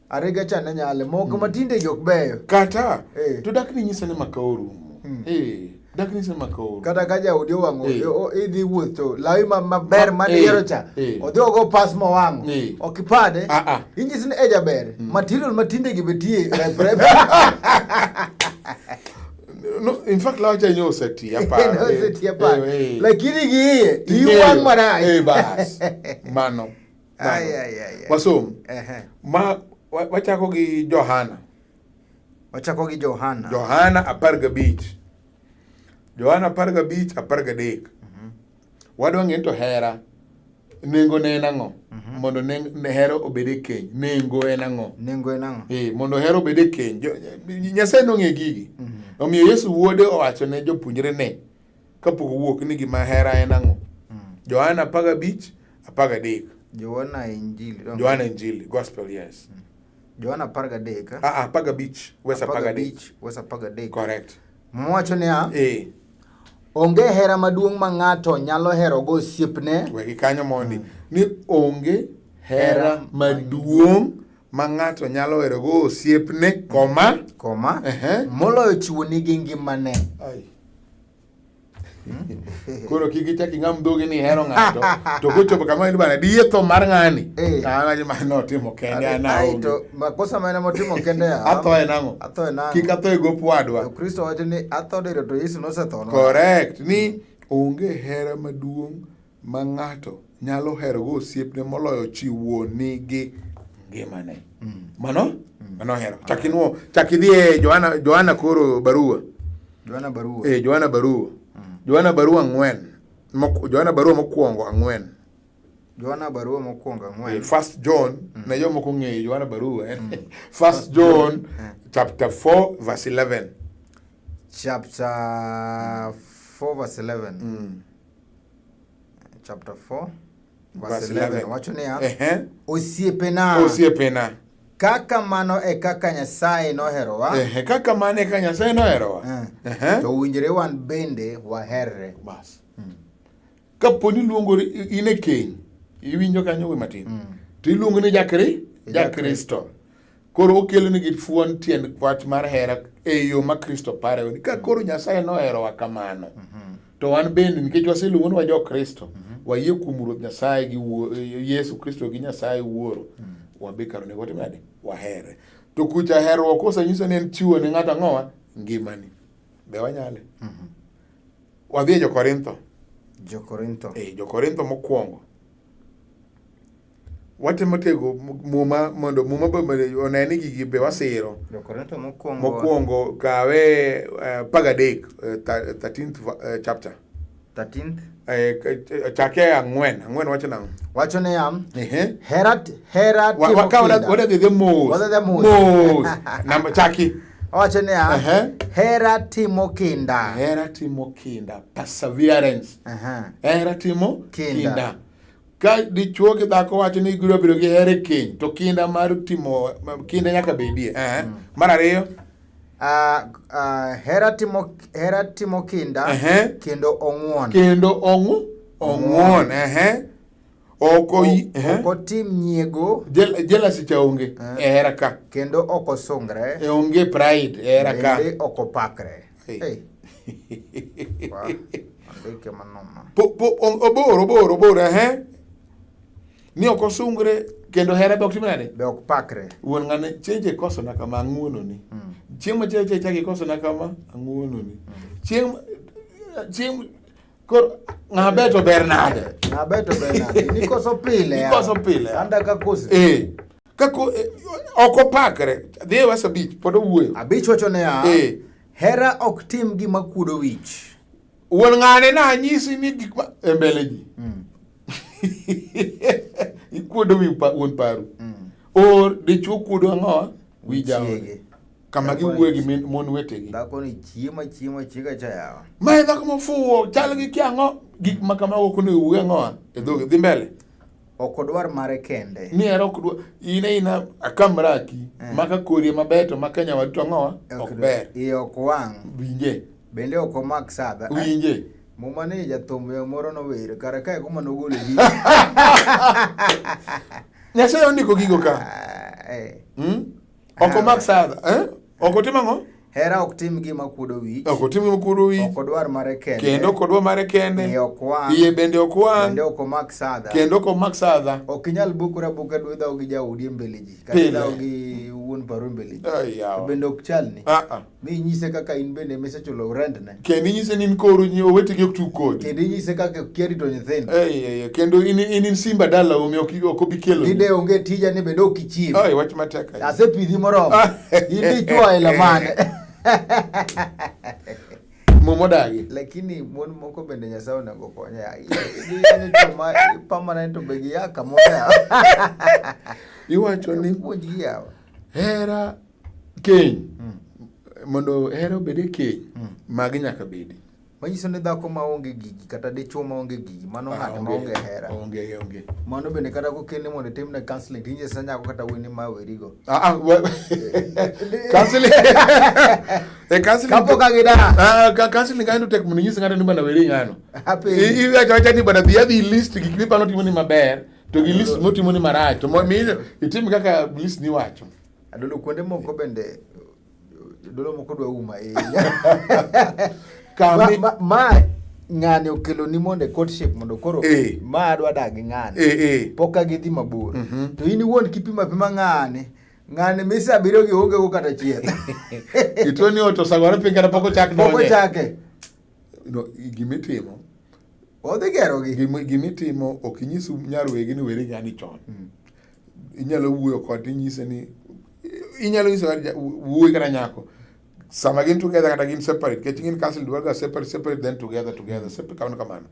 arega cha ne nyale moko mm. matinde jok beyo kata eh. to dak ni nyisa ni maka orumo mm. eh, dak ni nyisa ni maka orumo kata ka jaudi owang'o eh. idhi wuoth to lawi maber ah, mane eh. yiero cha eh. odhi ogo pas mowang'o eh. ok ipade ah, ah. inyisi ni ejaber mm. material matinde gi betie reprep No, in fact la acha nyo seti hapa. No eh, seti hapa. Eh, eh. Lakini giye iwan mara. Eh bas. Mano. Ay ay ay. Wasom. Eh. Ma wachako gi Johana. Wachako gi Johana. Johana apar gabich. Johana apar gabich apar gadek. Wadwa ng'e to hera nengo ne en ang'o mhm. mondo ne hero obed e keny nengo en ang'o nengo en ang'o eh mondo hero obed e keny nyasaye nong'e gigi mhm. omiyo yesu wuode owacho ne jopuonjre ne kapok owuok ni gima hera en ang'o mhm. johana apar gabich apar gadek johana injili johana injili gospel yes johana apar gadek ah, ah, apar gabich wes apar gadek wes apar gadek correct mwacho niya eh. Onge hera maduong' ma ng'ato nyalo herogo osiepne. Wegi kanyo mondi mm. ni onge hera maduong' ma ng'ato nyalo herogo osiepne, koma. Koma. Uh -huh. Moloyo chiwo nigi ngimane. Ay. koro kik ichak ing'am dhogi ni ihero ng'ato to kochopo kama in bana diye tho mar ng'ani eh. to an aji ma notimo kende an aonge Makosa ma en motimo kende ya. Atho en ang'o? Atho en ang'o? Kik atho e gop wadwa. Kristo wacho ni atho diro to Yesu nosetho. Correct. Ni onge hera maduong' ma ng'ato nyalo herogo osiepne moloyo chiwo nigi ngimane. Mm. Mano? Mm. Mano hero. Chak inuo, chak idhi e Johana, Johana koro barua. Johana barua. Eh, Johana barua. Mm. Johana barua ang'wen. Johana barua mokwongo ang'wen. Johana barua mokwongo ang'wen. Eh, first John mm. na yo moko ng'eyo Johana barua eh. mm. First John eh. chapter 4 verse 11. Chapter 4 verse 11. Mm. Chapter 4 verse 11. Wacho niya, osiepena. Osiepena. Kaka mano e kaka Nyasaye noherowa. Eh, kaka mano e kaka Nyasaye noherowa. Eh. To winjre wan bende waherre. Bas. Kapo ni luongori in e keny, iwinjo kanyo we matin. Mm. To iluongo ni jakri, jakristo. Koro okelo ni gifuon tiend wach mar hera e yo ma Kristo parewa ni ka koro Nyasaye noherowa kamano. Mm -hmm. To wan bende nikech waseluongo ni wa jo Kristo, mm -hmm. wayie kuom Ruoth Nyasaye gi Yesu Kristo gi Nyasaye Wuoro. Mm -hmm wabe kar onego watim nade wahere to kucha herruok kosenyiso ni en chiwo ne ng'ato ang'owa ngimani be wanyale mm -hmm. Wadhi e Jokorintho. Jokorintho. Eh, Jokorintho mokwongo. Watemo tego muma mondo muma be one ni gigi be wasiro. Jokorintho mokwongo. Mokwongo kawe uh, pagadek uh, 13th uh, chapter. 13th eh, eh, chake ang'wen ang'wen wacho nang'o wacho niya hera hera wadadhidhe mos mos namba chaki Owacho niya, uh -huh. hera timo kinda. Hera timo kinda, perseverance. Uh -huh. Hera timo kinda. kinda. Ka dichuo gi dhako wacho ni gibiro bedo gi hera e keny, to kinda mar timo kinda nyaka bedie. Uh -huh. mm. Mar ariyo Uh, uh, hera timo hera timo kinda uh -huh. kendo ong'won kendo ong'u ong'won uh -huh. ok eh? otim nyiego jealousy cha onge eh. e hera ka kendo ok osungre e onge pride e hera ka bende ok opakre obor obor obor ehe ni ok osungre kendo hera be ok tim nade be ok pakre wuon ng'ane chieng' chikosona kama ang'uononi hmm. chieng' machielo chieng' chak ikosona kama ang'uononi hmm. chieng' chieng' Koro ng'a beto ber nade? Ng'a beto ber nade? Nikoso pile. Nikoso pile. Anda ka kosi. Eh. Kako eh, ok opakre. Dhi e wasa bich pod owuoyo. Abich wacho ne ya. Eh. Hera ok tim gima kuodo wich. Wuon ng'ane na anyisi ni gik ma e mbele ji. Mm. Ikuodo wi wuon paru. Mm. Or dichuo kuodo ang'o? Wi jaode. kama giwuoye gi mon wetegi. Dhakoni chiemo chiemo chiega cha yawa. Ma e dhako mofuwo chal gi kiang'o gik ma kamago ok onego wuoye ang'owa e dhoge dhi mbele. Ok odwar mare kende. Ni ero ok dwar in ina akamraki eh. maka korie maber to maka nyawadu to ang'owa ok ber. Iye ok wang'. Winje. Bende ok omak sadha. Winje. Muma ni jathum moro nower kare kae kuma nogolo gi. Nyasaye ondiko gigo ka. Ah, eh. Hmm? Ok omak sadha. Eh? Ok otim ang'o? Hera ok tim gima kuodo wich. Ok otim gima kuodo wich. Ok odwar mare kende. Kendo ok odwar mare kende. Iye ok wang'. Iye bende ok wang'. Kendo ok omak sadha. Kendo ok omak sadha. Ok inyal bukura buka dwe dhaw gi jaodi e mbele ji. Kata dhaw gi wuon paru e mbele ji. Bende ok chalni. Ah ah. mi inyise kaka in bende misechulo rentne kendo inyise ni in koru nyi owetegi ok tug kodi kendo inyise kaka okia rito nyithindo Ei, ei, ei, kendo in in in simba dala omi ok ok obi kelo ni de onge tija ni bende ok ichiw Ai, wach matek ahinya. asepidhi moromo in dichwo aila mane muma odagi lakini mon moko bende nyasaye onego konye ahinya permanent be giya kamoro yawa iwacho ni puonj giyawa hera keny mm. mondo hera obed e keny mm. magi nyaka bedi manyiso ni dhako ma onge gigi kata dichwo ma onge gigi mano ah, ng'at ma onge hera onge onge mano bende kata ko kende mondo tim na counseling tinje sa nyako kata wini ma weri go ah ah counseling e counseling kapo ka gida ah ka counseling kaendo tek mondo nyisa ng'ato ni bana weri ng'ano happy i i acha ni bana bi adhi list gik mi pano timo ni maber to gi list motimo ni marach to mi itim kaka list ni wacho Adolo kuonde moko bende jodolo moko dwa uma ahinya. Kami ma, ma, ma ng'ani okelo ni mondo e courtship mondo koro e. ma adwa dag ng'ani e, e. pok agidhi mabor mm -hmm. to in iwuon kipima pima ng'ani ng'ani misa abiriyo gi onge go kata chiel itoni oto sagore piny kata pok ochak donje pok ochake gima itimo odhi gerogi gima itimo ok inyis nyar wegi ni weri gani chon hmm. inyalo wuoyo kod inyise ni inyalo nyiso wuoyi kata nyako sama gin together kata gin separate kech gin counseling dwarga separate separate then together together separate kamano kamano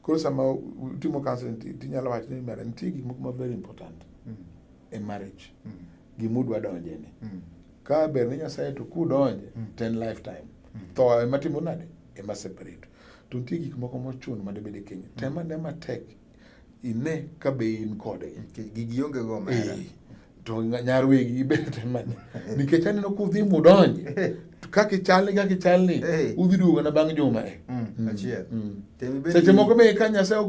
koro sama utimo counseling tinyalo wacho ni mera nitie gik moko ma very important mm. e marriage mm. gima udwa donje ni mm. ka ber ni nyasaye to kudonje mm. ten lifetime mm. tho ema timo nade ema separate to nitie gik moko mochuno ma debed e kenya mm. tema ne matek ine ka be in kode gigi onge go mera eh, to nyar wegi ibed temane nikech aneno kudhi mudonje kaka ichalni kaka ichalni eh. udhi duogo na bang' juma e mm, mm, achiel seche moko be ka nyasaye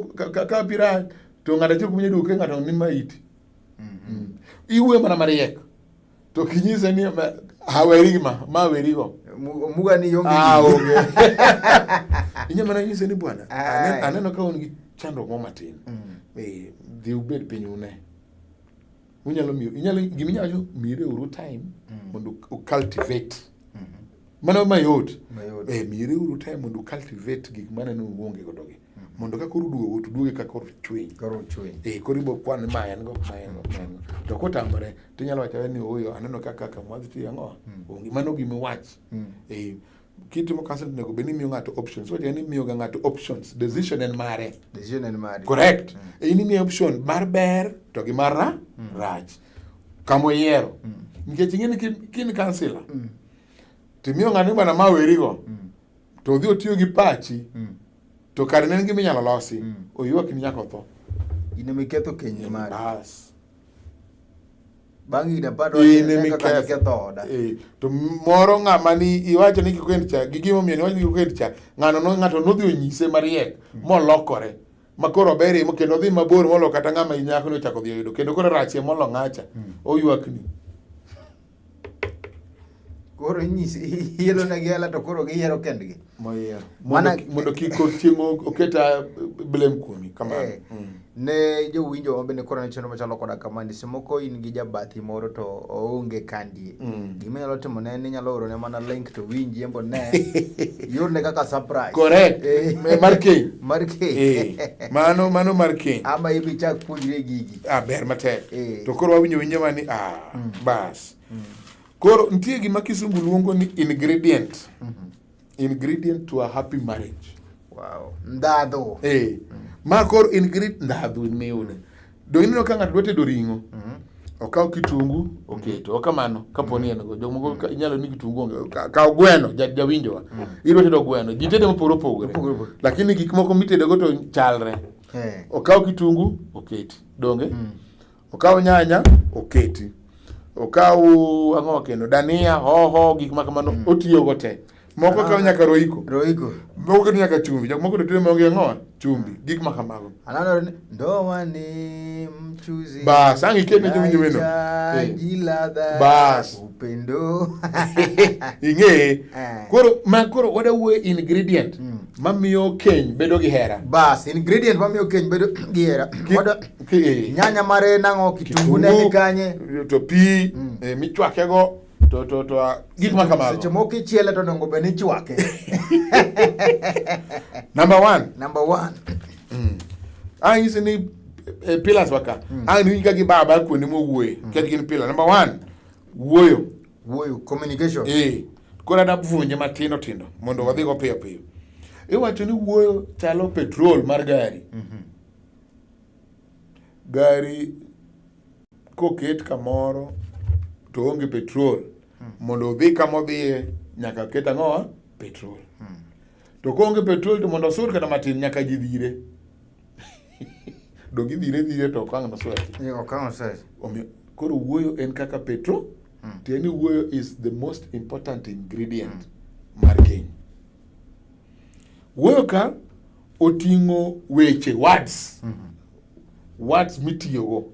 ka pira to ng'ato achiel kuom nyaduoke ng'ato ni maiti mm -hmm. iwuoyo mana mariek to kinyise ni haweri ma ma werigo muga ni yonge ah, onge inya mana nyise ni bwana aneno ka un gi chandruok mo matin mm. eh, dhi ubed piny une unyalo miyo inyalo gima inyalo mire uru time mm. mondo u cultivate mm-hmm. mano mayot eh, mire uru time mondo u cultivate gik maneno uonge godo gi mondo ka koro duogo to duoge ka koro chwiny koro chwiny eh koro ibo kwan ma en go ma en go ma en go to kotamore to inyalo wacho ni oyo aneno ka kaka mwadhi tiyo ang'o hmm. onge mano gima iwach hmm. eh kitimo counseling onego bed ni miyo ng'ato options wacha ni miyo ga ng'ato options decision en mare decision en mare correct mm. Eh, in imiyo option mar ber to gi mar ra mm. rach kamo yiero mm. nikech ing'e ni kin counselor mm. timiyo ng'ani bana ma werigo mm. to odhi otiyo gi pachi mm. to kare ne en gima inyalo losi mm. oywak ni nyaka otho in ema iketho kenyni mari bas bang' higni apar iketho oda eh, to moro ng'ama ni iwacho ni kik wend cha gi gimomiyo niwacho ni kik wend cha ng'ano no ng'ato nodhi onyise mariek mm. molokore ma koro ober imo kendo odhi mabor molo kata ng'ama inyako ni ochako dhi oyudo kendo koro rachie molo ng'acha mm. oywakni koro inyisi ielonegi hela to koro giyiero kendgi moyiero Mana- mondo kik chieng' oketa blame kuomi kamano Eh, Mm. ne jowinjo mabende koro ne chenro machalo koda kamandi semoko in gi jabathi moro to oonge kandie Mm. gima inyalo timo ne ni inyalo orone mana link to winji embo ne yorne kaka surprise correct Eh, mar keny mar keny Eh, mano mano mar keny ama ibichak puonjre gigi ah, ber matek eh. to koro wawinjo winjo ma ni ah, mm. bas mm. koro nitie gima kisungu luongo ni ingredient mm -hmm. ingredient to a happy marriage wow. ndhadhu eh. mm. ma koro ingredient ndhadhu miune mm. do ineno ka ng'ato dwa tedo ring'o mm -hmm okaw kitungu oketo okamano kapo ni en go jomoko mm. inyalo ni kitungu onge kaw gweno jawinjowa mm. idwa tedo gweno ji tede mopogore opogore lakini gik moko mitedego to chalre hey. Eh. Okaw kitungu oketi donge mm. Okaw nyanya oketi, okaw ang'o kendo dania, hoho, gik ma kamano mm. Otiyogo te moko ah. kaw nyaka roiko roiko moko keto nyaka chumbi jok moko tetedo maonge ang'owa chumbi mm. gik ma kamago ananore ndowa ni mchuzi bas ang' iketne chumbi wendo eh. bas upendo ing'eye eh. koro ma koro wadawuoye ingredient mm. mamiyo keny bedo gi hera bas ingredient mamiyo keny bedo gi hera eh. nyanya mare nang'o kitungu ne ni kanye to pi mm. eh, michwake go to to to ah, gik ma kamago seche moko ichiele to dongo bende ichwake number 1 number 1 mm. ang'isi ni eh, pillars waka mm. ang' ni ka gi baba kuonde mowuoye mm. ket gin pillar number 1 wuoyo wuoyo communication eh koro ada puonje matindo tindo mondo wadhi go piyo piyo iwacho ni wuoyo chalo petrol mar gari mm -hmm. gari koket kamoro to onge petrol mm. mondo odhi kama odhiye nyaka ket ang'owa petrol mm. to koonge petrol to mondo osur kata matin nyaka ji dhire Donge idhire dhire to okang' noswaki. Ee, okang' oswaki. Omiyo koro wuoyo en kaka petro mm. tiende wuoyo is the most important ingredient mm. mar keny. Wuoyo ka oting'o weche words mm -hmm. words mitiyogo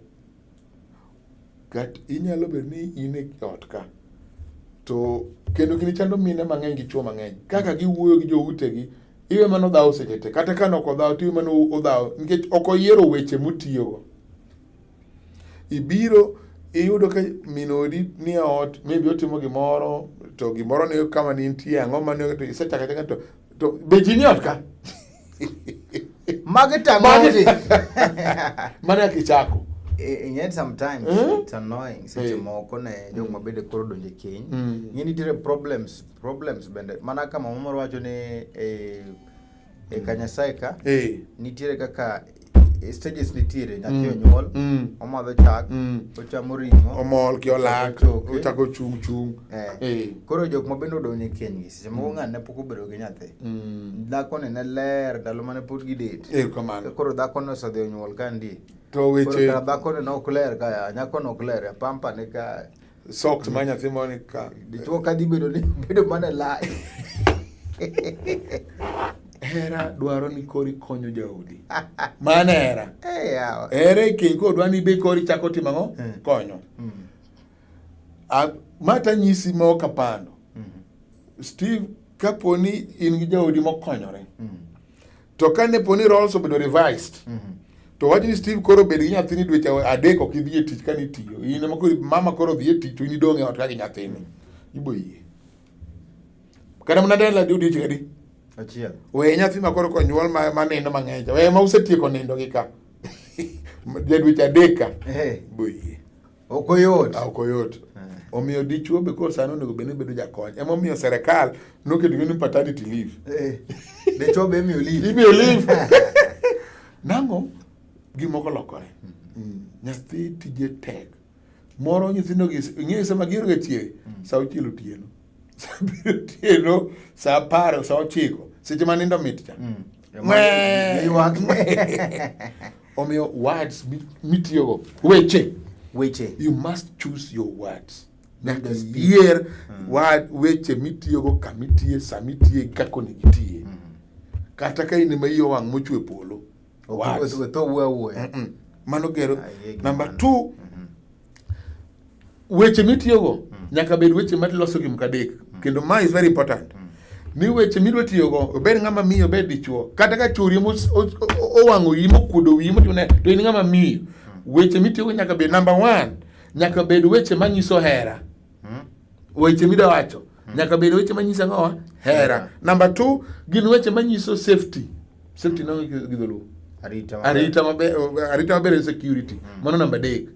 Kat inyalo bedo ni in e ot ka to kendo gini chando mine mang'eny gi chwo mang'eny kaka giwuoyo gi joutegi iwe mana odhawo seche te kata ka nok odhawo to iwe mana odhawo nikech ok oyiero weche motiyogo ibiro iyudo ka min odi ni e ot maybe otimo gimoro to gimoro ne kama ne intie ang'o mane isechako achaka to to be ji ni ot ka Market and Market. Mane ya kichako. Ing'e eh, sometimes mm? it's annoying seche hey. Eh. moko ne mm. jok mabende koro donje keny mm. ing'e nitiere problems problems bende mana kama mama wacho ni eh, e eh, kanyasaye ka hey. nitiere kaka stages nitiere nyathi mm. onyuol mm. omadho chak mm. ochamo ring'o omol ki olak ochako chung' chung' eh. Eh. koro jok ma bende odonjo e kenygi seche moko ng'ani ne pok obedo gi nyathi dhakoni ne ler ndalo mane pod gidet eh, koro dhakoni osedhi onyuol ka ndi to weche dhakoni ne ok ler ka nyakono ok ler pampa ne ka Socks ma nyathi moro ni ka. Dichwo ka dhi bedo ni bedo mana lai. Hera dwaro ni kori konyo jaodi. Mana hera. Eh yawa. Hera e keny ko dwani be kori chako timo ang'o? Hmm. Konyo. Hmm. A mata nyisi ma ok apando. Hmm. Steve kaponi in gi jaodi mokonyore. Mm. To ka ne poni roles obedo revised, mm -hmm. to wach ni Steve koro bed gi nyathini dweche adek ok idhi e tich ka nitiyo. In ema koro mama koro dhi e tich to in idong' e ot ka gi nyathini. Ibo yie. Kata mana dala di odiechieng' adi? Achiel. We nyathi ma koro konyuol ma, ma nindo mang'eny. We ma usetieko nindo gi ka. Jadweche adek ka. Ibo yie. ok oyot ah, ok oyot eh. omiyo dichuo be koro sani onego bedni bedo jakony ema omiyo serikal noketo ni paternity leave eh. dichuo be imiyo leave imiyo leave nango gimoko lokore mm. nyathi tije tek moro nyithindo ing'eyo sama gihero ga chiege mm. sa auchiel otieno otieno sa apar sa ochiko seche ma nindo mit cha mm. omiyo words mitiyogo weche weche you must choose your words nyaka iyier mm. word weche mitiyogo kama itiye sama itiye kaka onego itiye mm. kata ka in ema iye owang' mochwe polo mano gero namba t mm-hmm. weche mitiyogo mm. nyaka bed weche maloso gimka adek mm. kendo ma is very important mm. ni weche midwa tiyogo obed ng'ama miyo obed dichuo kata ka chori owang'o yi mokuodo wiyi motune to in ng'ama miyo weche mitiyogo nyaka bed namba one nyaka bed weche manyiso hera hmm? weche midawacho hmm. nyaka bed weche manyiso ang'owa hera namba t gin weche manyiso safety safety no gi dholuo arita maber arita maber en security hmm. mano namba adek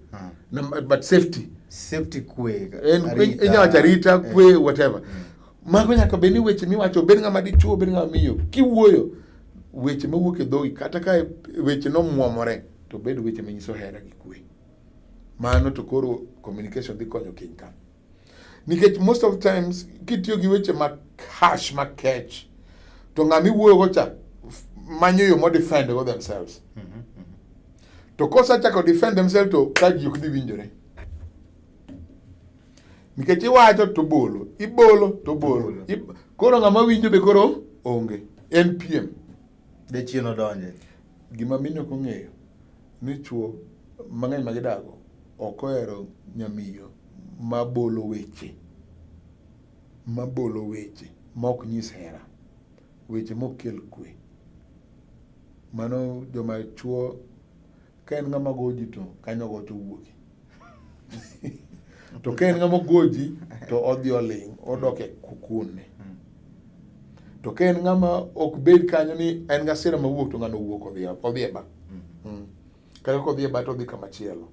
hmm. but safety safety kwe inya wacho arita eh. kwe whatever hmm. mago nyaka bed ni weche miwacho bed ng'ama dichuo bed ng'ama miyo kiwuoyo weche mawuok e dhogi kata ka weche nomwomore to bed weche manyiso hera gi kwe Mano to koro communication dhi konyo kiny ka. Nikech most of times kitiyo gi weche ma harsh ma kech to ng'ama iwuoyogo cha manyo yo modefend go themselves. Mm -hmm. To kosachako defend themselves to ka ji ok dhi winjore. Nikech iwacho to bolo, ibolo to bolo. Koro ng'ama winjo be koro onge. NPM. Jachien odonje. Gima mine ok ong'eyo ni chwo mang'eny ma gidago ok ohero nyamiyo ma bolo weche ma bolo weche ma ok nyis hera, weche ma ok kel kwe. Mano joma chwo Ka en ng'ama goji to kanyo go to wuoki. to ka en ng'ama goji to odhi oling' odok e kukune. To ka en ng'ama ok bed kanyo ni en gasira mawuok to ng'ano wuok odhi odhi e ba. Mm. Kata kodhi e ba to odhi kama chielo.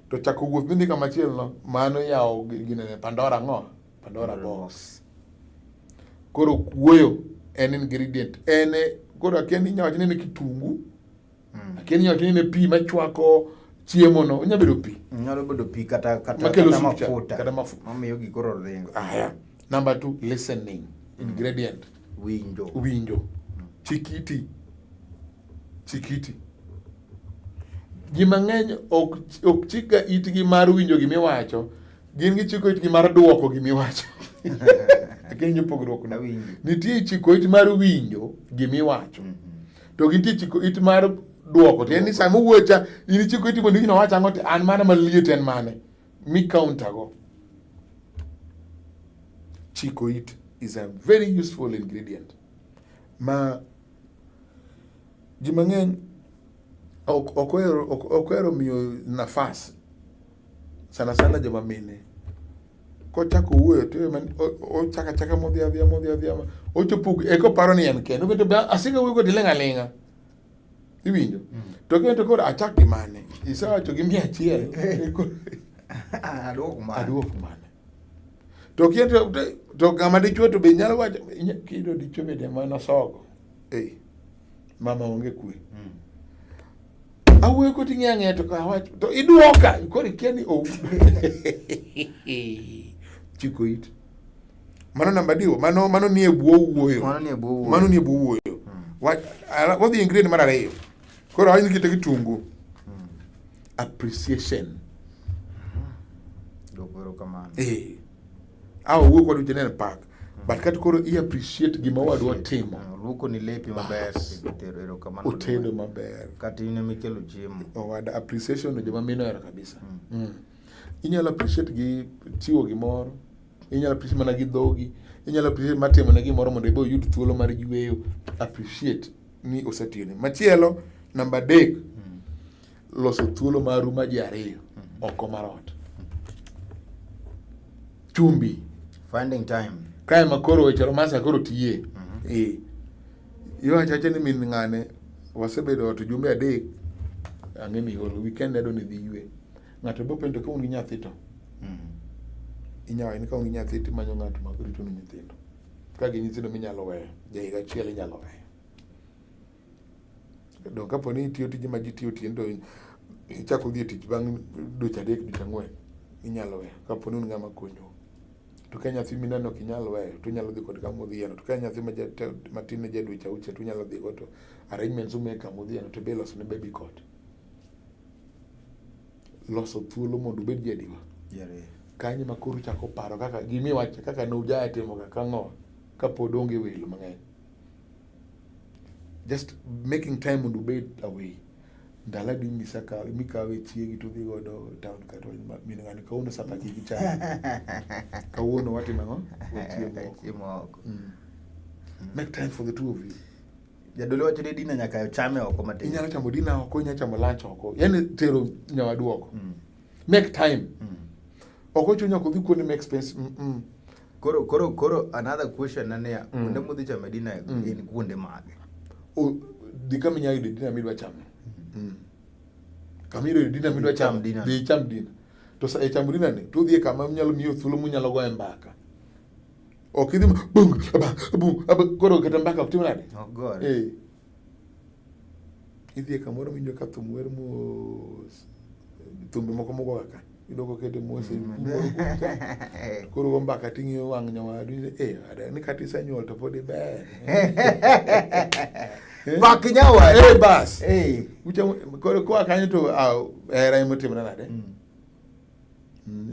To chako wuoth midhi kama chielo no mano yawo ginene Pandora ng'o? Pandora box. Koro kuoyo en ingredient en e koro akia ni inya wacho ni en e kitungu. Mm. Akia ni nyathi ne pi machwako chiemo no, onya bedo pi. Nyalo bedo pi kata kata kata mafuta. Kata mafuta. Mamiyo gikoro ringo. Aya. Number two, listening. Mm. Ingredient. Winjo. Winjo. Mm. Chikiti. Chikiti. Ji mang'eny ok ok chika itgi mar winjo gimiwacho, gin gichiko itgi mar duoko gimiwacho. Akia ni pogruok na winjo. Nitie chiko it mar winjo gimiwacho. Mm -hmm. to gintie chiko it mar duoko tiende ni sama owuocha in ichiko iti mondo gino wacha ang'o an mano maliet en mane mi counter go chiko it is a very useful ingredient ma ji mang'eny ok ohero miyo nafas sana sana joma mine kochako wuoyo to ochaka chaka modhi adhiya modhi adhiya ochopo eko paro ni en kende obet be asika wuoyo kodi ling' aling'a iwinjo mm. to kendo koro achak gi mane isewacho gi mia achiel aduok mane to kendo to kama dichwo to be nyalo wacho kido dichwo bende mana sogo ei mama onge kwe mm. awuoyo koti ng'e ang'e to awach to idwoka koro ikia ni ou chiko it mano namba diwo mano mano nie bwo wuoyo mano nie bwo wuoyo mano nie bwo wuoyo hmm. wadhi ingredient mar ariyo koro awach ni kite kitungu hmm. appreciation hmm. eh Au wuo kod Janel Park. But kati koro i appreciate gima wadwa timo. Ah, luoko ni lepi maber, tero ero kamano. Otedo maber. Kati ine mikelo chiemo. Owada oh, appreciation joma mino ero kabisa. Mm. Mm. Inyalo appreciate gi chiwo gimoro. Inyalo appreciate mana gi dhogi. Inyalo appreciate matimo ne gimoro mondo ibo yud thuolo mar yueyo. Appreciate ni osetiyone. Machielo, namba adek. Mm. loso thuolo maru ma ji ariyo mm-hmm. oko mar ot. Chumbi. Finding time. Kae ma koro weche romansa koro tiye. Mm-hmm. Eh. Iwacho acha ni min ng'ane wasebedo ot jumbe adek ang'e ni ol weekend ado ni dhi ywe. Ng'ato bo penjo ka un gi nyathi to. Mm-hmm. Inyawa in ka un gi nyathi to imanyo ng'ato ma rito ni nyithindo. Ka gi nyithindo minyalo weyo, ja higa achiel inyalo weyo. Donge kapo ni itiyo tije ma ji tiyo otieno to ichako dhi e tich bang' dweche adek dweche ang'wen inyalo weyo kapo ni un ng'ama konyo. To ka nyathi mineno ok inyal weyo to inyalo dhi kode kama odhiyeno. To ka en nyathi matin ma ja dweche auchiel to unyalo dhigo to arrangements umiye kama odhiyeno to be iloso ne baby cot. Loso thuolo mondo ubed jadiwa. Kanyo ema koro uchako paro kaka gima iwacho kaka ne ujatimo kaka ang'o kapod onge welo mang'eny. just making time mondo obed away ndala di misa ka mi kawe chiegi to dhi godo town ka to min ngani kawuono sapa chi gi chai kawuono watimo ang'o wachiemo oko mm. mm. make time for the two of you jadolo wacho ni dina nyaka chame oko matin inyalo chamo dina oko inyalo chamo lunch oko yani tero nyawadu oko mm. make time mm. ok ochuno nyaka odhi kuonde ma expense mm -mm. koro koro koro another question na niya mm. kuonde mudhi chame dina mm. gin kuonde mage dhi kama inyalo yudo dina midwa chamo mm. kama iyudo dina midwa chamo dhi icham dina to sa ichamo dina ni to udhi e kama nyalo miyo thuolo munyalo goye mbaka ok idhi bung aba bung aba koro kata mbaka ok tim nade eh Idhi e kamoro winjo ka thum wer mos, thumbe moko mogo kaka iyudo kokete mos e mm. moro koro go mbaka ting'iyo wang' nyawadu ni eh ada ni kata isenyuol to pod iber bak nyawadu eh bas eh ucha koro kwa kanyo to ah, hera imotimna nade mm.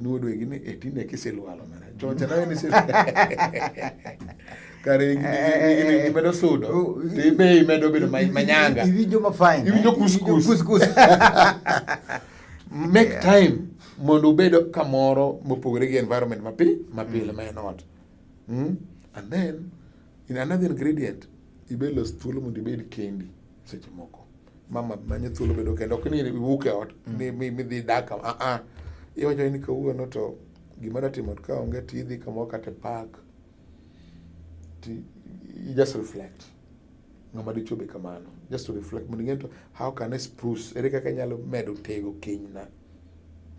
nodwegi ni e tinde kisilwalo mana chocha nawe ni kare eh, eh, eh, imedo sudo oh, tibe imedo bedo manyanga iwinjo mafine iwinjo kuskus make time mondo ubed kamoro mopogore gi environment mapi mapile mm. ma en ot hmm? and then In another ingredient, ibed los thuolo mondo ibed kendi seche moko. Mama manyo thuolo bedo kendo ok ni iwuok e ot mm. ni midhi dak a ah, a. Ah. Iwacho ni kawuono to gima natimo ka onge ti idhi kamoro kata e park ti you just reflect ng'ama dichuo be kamano just to reflect mondo ing'e to how can I spruce ere kaka inyalo medo tego kenyna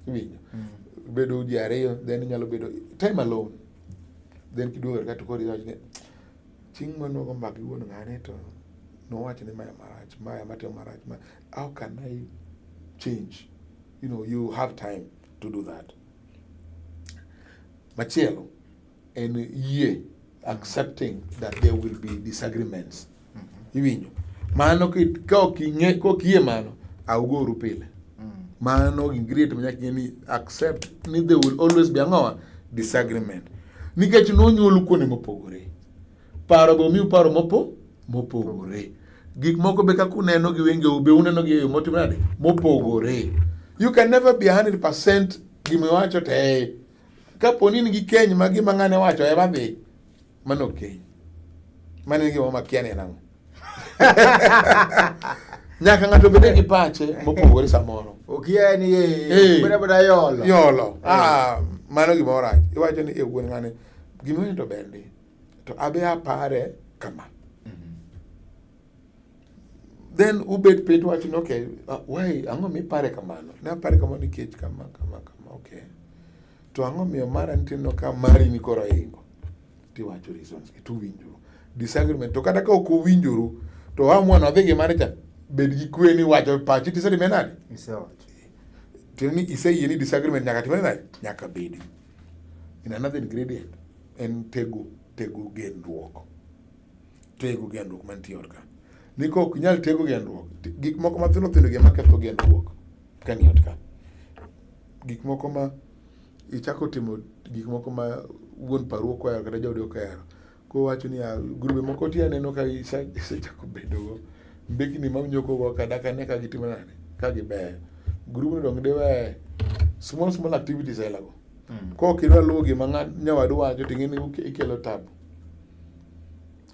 iwinjo mm. bedo ji ariyo then inyalo bedo time alone then kiduogo ka to koro iwacho ni chieng' mane wago mbaka gi wuon ng'ane to nowacho ni maya marach maya matimo marach ma how can I change you know you have time to do that machielo en yie accepting that there will be disagreements mm-hmm. iwinjo mano ka ok ing'e ka ok iyie mano augoru pile mm. mano ingriet manyaka ing'e ni accept ni they will always be ang'owa disagreement nikech nonyuolu kuonde mopogore paro be omiu paro mopo mopogore gik moko be kaka uneno gi wengeu be uneno gi eyo motimo nade mopogore you can never be 100 percent gima iwacho te kaponi in gi keny ma gima ng'ane wacho ema dhi Mano keny. Mano en gima makia ni en ang'o. Nyaka ng'ato bede gi pache mopogore samoro. Okia ni eh bada bada yolo. Yolo. Eh. Ah, mano gima orach. Iwacho ni e wuon ng'ane gima ni to ber ndi. To abe apare kama. Mm-hmm. Then ubet piny wacho ni okay, uh, why ang'o mi pare kamano? Ne apare kamano nikech kama kama kama okay. to ang'o miyo mara nitie no ka mari ni koro ingo tiwacho reasons gi to winjuru disagreement to kata ka ok uwinjuru to ha mwana odhi gi mare cha bed gi kwe ni wacho pachi tisetime nade Isewacho. tiende ni iseyie ni disagreement nyaka timre nade nyaka bedi in another ingredient en tego tego gendruok tego gendruok mantie ot ka ni ka ok inyal tego gendruok ti- gik moko mathindo thindo gi ema ketho gendruok ka ni ot ka. Gik moko ma ichako timo gik moko ma wuon paru ok ohero kata jaodi ok ohero. Koro owacho niya, grube moko ti aneno ka isechako bedo go mbekni ma unyoko go ka dak ane ka gitimo nade, ka gibeyo. Grubno donge diwe small small activities aila go. Mm. Kok idwa luwo gima ng'a- nyawadu wacho to ing'e ni uke- ikelo tabu.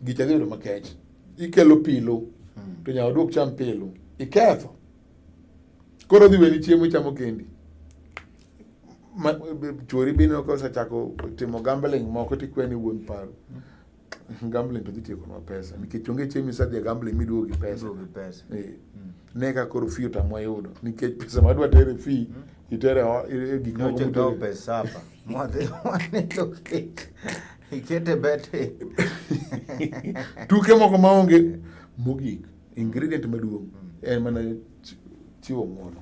Gicha dhi bedo makech. Ikelo pilu Mm. to nyawadu ok cham pilu. Iketho. koro dhi weni chiemo ichamo kendi chwori bende osechako timo gambling moko tikweni wuon paro gambling to dhi tiekonwa pesa nikech onge chieng' misadhi e gambling miduogo gi pesa eh. hmm. ne ka koro fi otamwa yudo nikech pesa madwa tere fi hmm. itere e gik ikete bete tuke moko maonge mogik ingredient maduong' en mana chiwo ng'uono.